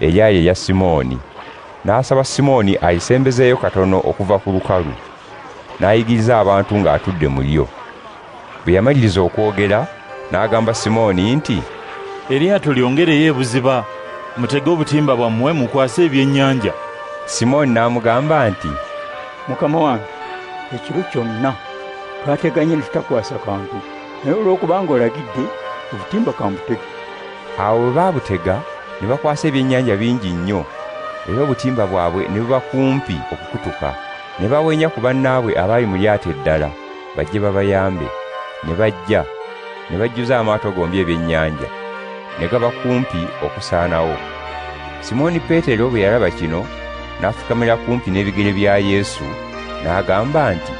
Eyaali eya Simooni. N'asaba Simooni ayisembezeeyo katono okuva ku lukalu, n'ayigiriza abantu ng'atudde mu lyo. Bwe yamaliriza okwogera, n'agamba Simooni nti. Eryato lyongereyo ebuziba, mutege obutimba bwammwe mukwase ebyennyanja. Simooni n'amugamba nti. Mukama wange, ekiro kyonna twateganye ne tutakwasa kantu, naye olw'okubanga olagidde, obutimba ka mbutege. Awo bwe baabutega ne bakwasa ebyennyanja bingi nnyo, era obutimba bwabwe ne buba kumpi okukutuka. Ne bawenya ku bannaabwe abaali mu lyato eddala bajje babayambe. Ne bajja, ne bajjuza amaato gombi ebyennyanja, ne gaba kumpi okusaanawo. Simooni Peetero bwe yalaba kino, n'afukamira kumpi n'ebigere bya Yesu, n'agamba nti,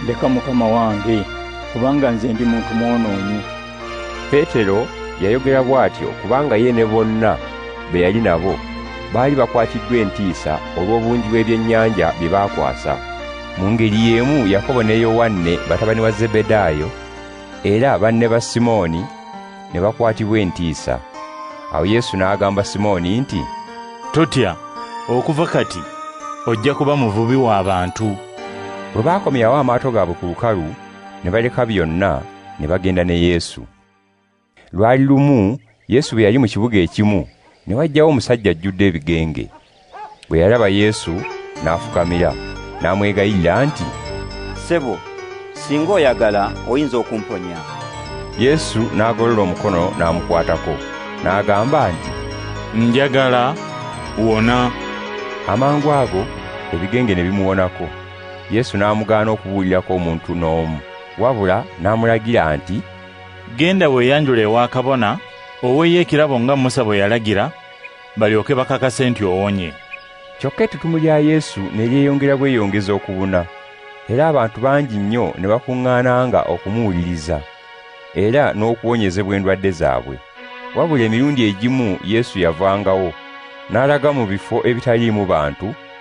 Leka Mukama wange, kubanga nze ndi muntu mwonoonyi. Peetero yayogera bw'atyo kubanga ye ne bonna be yali nabo baali bakwatiddwa entiisa olw'obungi bw'ebyennyanja bye baakwasa. Mu ngeri y'emu Yakobo ne Yowanne batabani wa Zebedaayo era banne ba Simooni ne bakwatibwa entiisa. Awo Yesu n'agamba Simooni nti, Totya, okuva kati ojja kuba muvubi w'abantu. Bwe baakomyawo amaato gaabwe ku lukalu, ne baleka byonna ne bagenda ne Yesu. Lwali lumu Yesu bwe yali mu kibuga ekimu ne wajjawo omusajja ajjudde ebigenge. Bwe yalaba Yesu n'afukamira n'amwegayirira nti, Ssebo, singa oyagala oyinza okumponya. Yesu n'agolola omukono n'amukwatako n'agamba nti, Njagala wona. Amangu ago ebigenge ne bimuwonako. Yesu n'amugaana okubuulirako omuntu n'omu, wabula n'amulagira nti, Genda weeyanjule ewa kabona, oweeyo ekirabo nga Musa bwe yalagira, balyoke bakakase nti owonye. Kyokka ettutumu lya Yesu ne lyeyongera bweyongezi okubuna, era abantu bangi nnyo ne bakuŋŋaananga okumuwuliriza era n'okuwonyezebwa endwadde zaabwe. Wabula emirundi egimu Yesu yavangawo n'alaga mu bifo ebitaliimu bantu,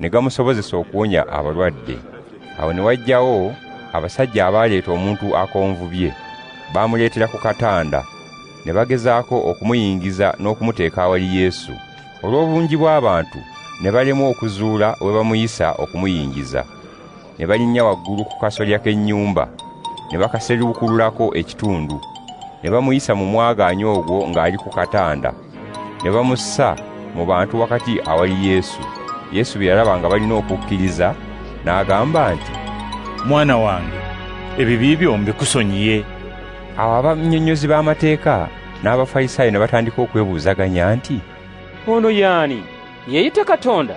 ne gamusobozesa okuwonya abalwadde awo ne wajjawo abasajja abaaleeta omuntu akonvubye baamuleetera ku katanda ne bagezaako okumuyingiza n'okumuteeka awali yesu olw'obungi bw'abantu ne balemwa okuzuula we bamuyisa okumuyingiza ne balinnya waggulu ku kasolya k'ennyumba ne bakaseruukululako ekitundu ne bamuyisa mu mwagaanya ogwo ng'ali ku katanda ne bamussa mu bantu wakati awali yesu yesu bye yalaba nga balina okukkiriza n'agamba nti mwana wange ebibi byo mbikusonyiye awo abannyonnyozi b'amateeka n'abafalisaayo ne batandika okwebuuzaganya nti ono yaani yeeyita katonda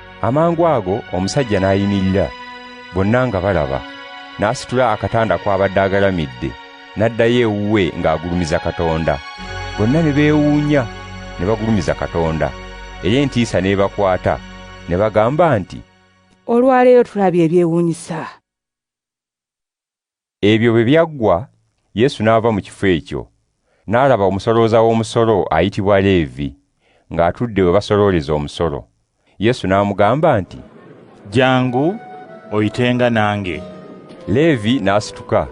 amangu ago omusajja n'ayimirira bonna nga balaba n'asitula akatanda kw'abadde agalamidde n'addayo ewuwe ng'agulumiza katonda bonna ne beewuunya ne bagulumiza katonda era entiisa n'ebakwata ne bagamba nti olwaleero tulabye ebyewuunyisa Ebyo bwe byaggwa, Yesu n'ava mu kifo ekyo, n'alaba omusolooza w'omusolo ayitibwa Leevi ng'atudde we basolooleza omusolo. Yesu n'amugamba nti. Jjangu oyitenga nange. Leevi n'asituka,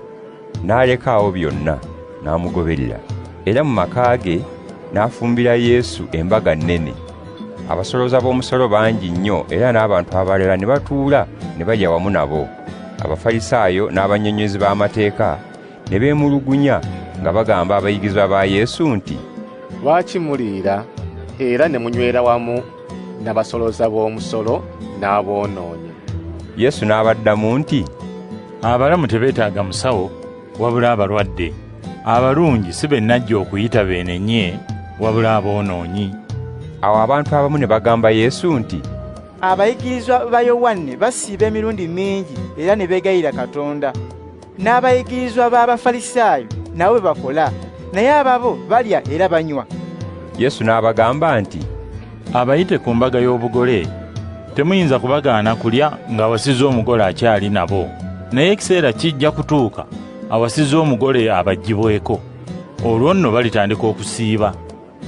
n'aleka awo byonna, n'amugoberera, era mu maka ge n'afumbira Yesu embaga nnene. Abasolooza b'omusolo bangi nnyo era n'abantu abalala ne batuula ne balya wamu nabo. abafalisaayo n'abannyonnyozi b'amateeka ne beemulugunya nga bagamba abayigirizwa ba yesu nti lwaki muliira era ne munywera wamu n'abasolooza b'omusolo n'aboonoonyi yesu n'abaddamu nti abalamu tebeetaaga musawo wabula abalwadde abalungi si be najja okuyita beenenye wabula aboonoonyi awo abantu abamu ne bagamba yesu nti Abayigirizwa ba Yowanne basiiba emirundi mingi era ne beegayira Katonda. N'abayigirizwa b'Abafalisaayo nabo bwe bakola, naye ababo balya era banywa. Yesu n'abagamba nti, Abayite ku mbaga y'obugole temuyinza kubagaana kulya ng'awasiza omugole akyali nabo, naye ekiseera kijja kutuuka awasiza omugole abaggyibweko, olwo nno balitandika okusiiba.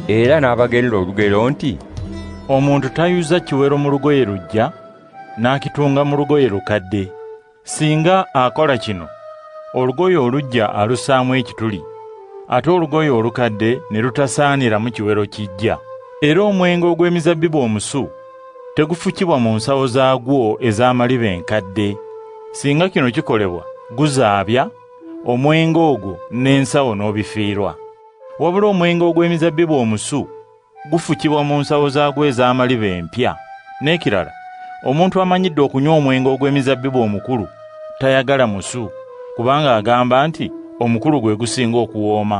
era n'abagerera olugero nti omuntu tayuza kiwero mu lugoye lujja n'akitunga mu lugoye lukadde singa akola kino olugoye olujja alusaamu ekituli ate olugoye olukadde ne lutasaanira mu kiwero kijja era omwenge ogw'emizabbibu omusu tegufukibwa mu nsawo zaagwo ez'amaliba enkadde singa kino kikolebwa guzaabya omwenge ogwo n'ensawo n'obifiirwa Wabula omwenge ogw'emizabbibu omusu gufukibwa mu nsawo zaagwo ez'amaliba empya. N'ekirala, omuntu amanyidde okunywa omwenge ogw'emizabbibu omukulu tayagala musu, kubanga agamba nti omukulu gwe gusinga okuwooma.